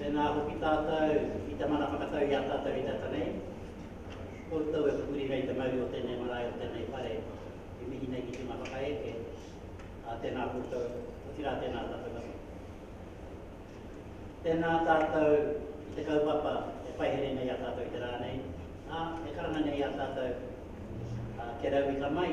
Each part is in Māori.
Tēnā hoki tātou i te mana whakatau i a tātou i te ata nei. Koutou e pupuri nei te mauri o tēnei marae, o tēnei whare, e mihi nei ki te hunga whakaeke, ā, tēnā koutou, otirā tēnā tātou katoa. Tēnā tātou i te kaupapa e paihere nei i a tātou i te rā nei, ā, e karanga nei i a tātou, ā, kia rauika mai.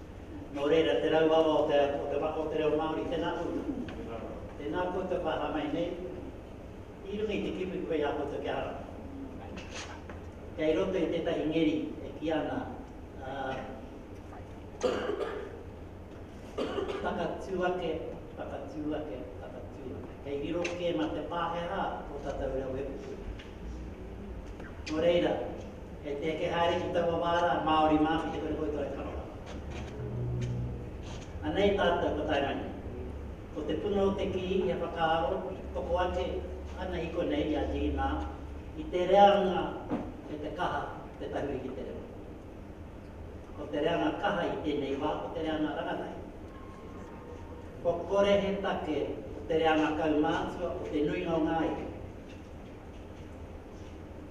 Nō reira, te rauawa o te, o te waka o te reo Māori, tēnā koutou. Tēnā koutou ka aha mai nei, i runga i te kipu koe i a koutou kia ara. Kei roto i tētahi ngeri e kī ana, takatū ake, takatū ake, takatū ake. Kei riro kē mā te Pākehā tō tātou reo e pupuhi. Nō reira. Kei te eke haere ki taua wā rā, Māori mā ki te koreko i tō aroha. Anei tātou ko Taimane. Ko te puna o te kī ia whakaaro toko ake ana i konei i a Dīnā i te reanga me te kaha te tahuri ki te reo. Ko te reanga kaha i tēnei wā ko te reanga rangatahi. Kua kore he take ko te reanga kaumātua o te nuinga o ngā iwi.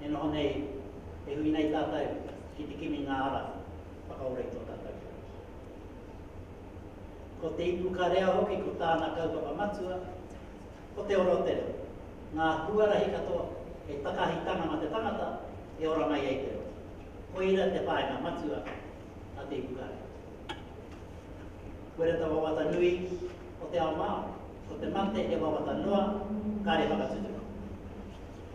E noho nei, e hui nei tātou ki te kimi ngā ara whakaora i tō tātou whānau. Ko te ipukarea hoki ko tāna kaupapa matua, ko te ora o te reo, ngā huarahi katoa hei takahitanga mā te tangata e ora mai ai te reo. Koira te whāinga matua a te ipukarea. Koira te wawata nui o te ao Māori, ko te mate he wawata noa, kāre whakatutuki.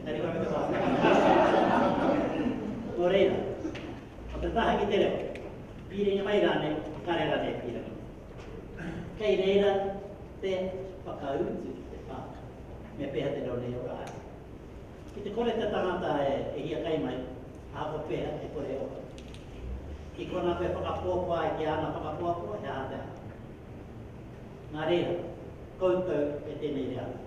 Engari ka puta wāhanga ki te Māori i tana whakataukī. Nō reira, ko te taha ki te reo, pīrangi mai rānei, kare rānei e pīrangi nei. Kei reira te whakautu ki te whānau, me pēhea te reo nei e ora ai. Ki te kore te tangata e hiakai mai, ahakoa pēhea e kore e ora. Ki konā koe e whakapuapua ai ki āna whakapuapua, he aha te aha. Nā reira, koutou e tēnei reanga.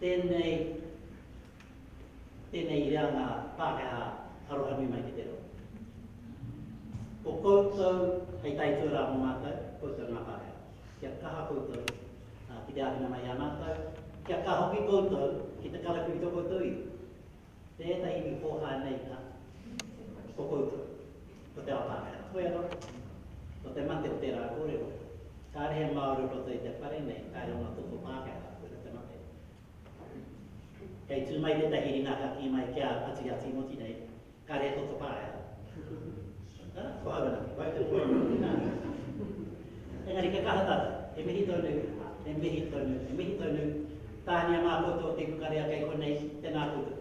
Tēnei, tēnei i a ngā Pākehā aroha nui mai ki te roa. Ko koutou hei tae tuarā mō mātou, koutou ngā Pākehā. Kia kaha koutou ki te āwhina mai i a mātou, kia kaha hoki koutou ki te karakiritō koutou iwi. Tēnā iwi pōhā nei nā, ko koutou, ko te ao Pākehā, ko ia roto, ko te mate o tērā kōrero, kāre he Māori roto i te whare nei, kāre ōna toto Pākehā, koira te mate. Kei tū mai tētahi ringa ka kī mai ki a Patu i a Tīmoti nei, kāre he toto Pākehā. Engari kia kaha tau. He mihi tonu, he mihi tonu, he mihi tonu. Tāhania mā koutou te kukarea kei konei, tēnā koutou.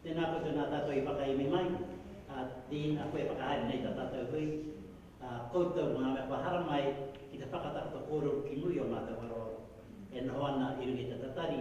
Tēnā koutou nā tātou i whakaemi mai, ā, Dean, a koe e whakahaere nei tā tātou hui, ā, koutou ngā mea kua hara mai ki te whakatakoto kōrero ki muri o mātou aroaro e noho ana i runga i te tatari,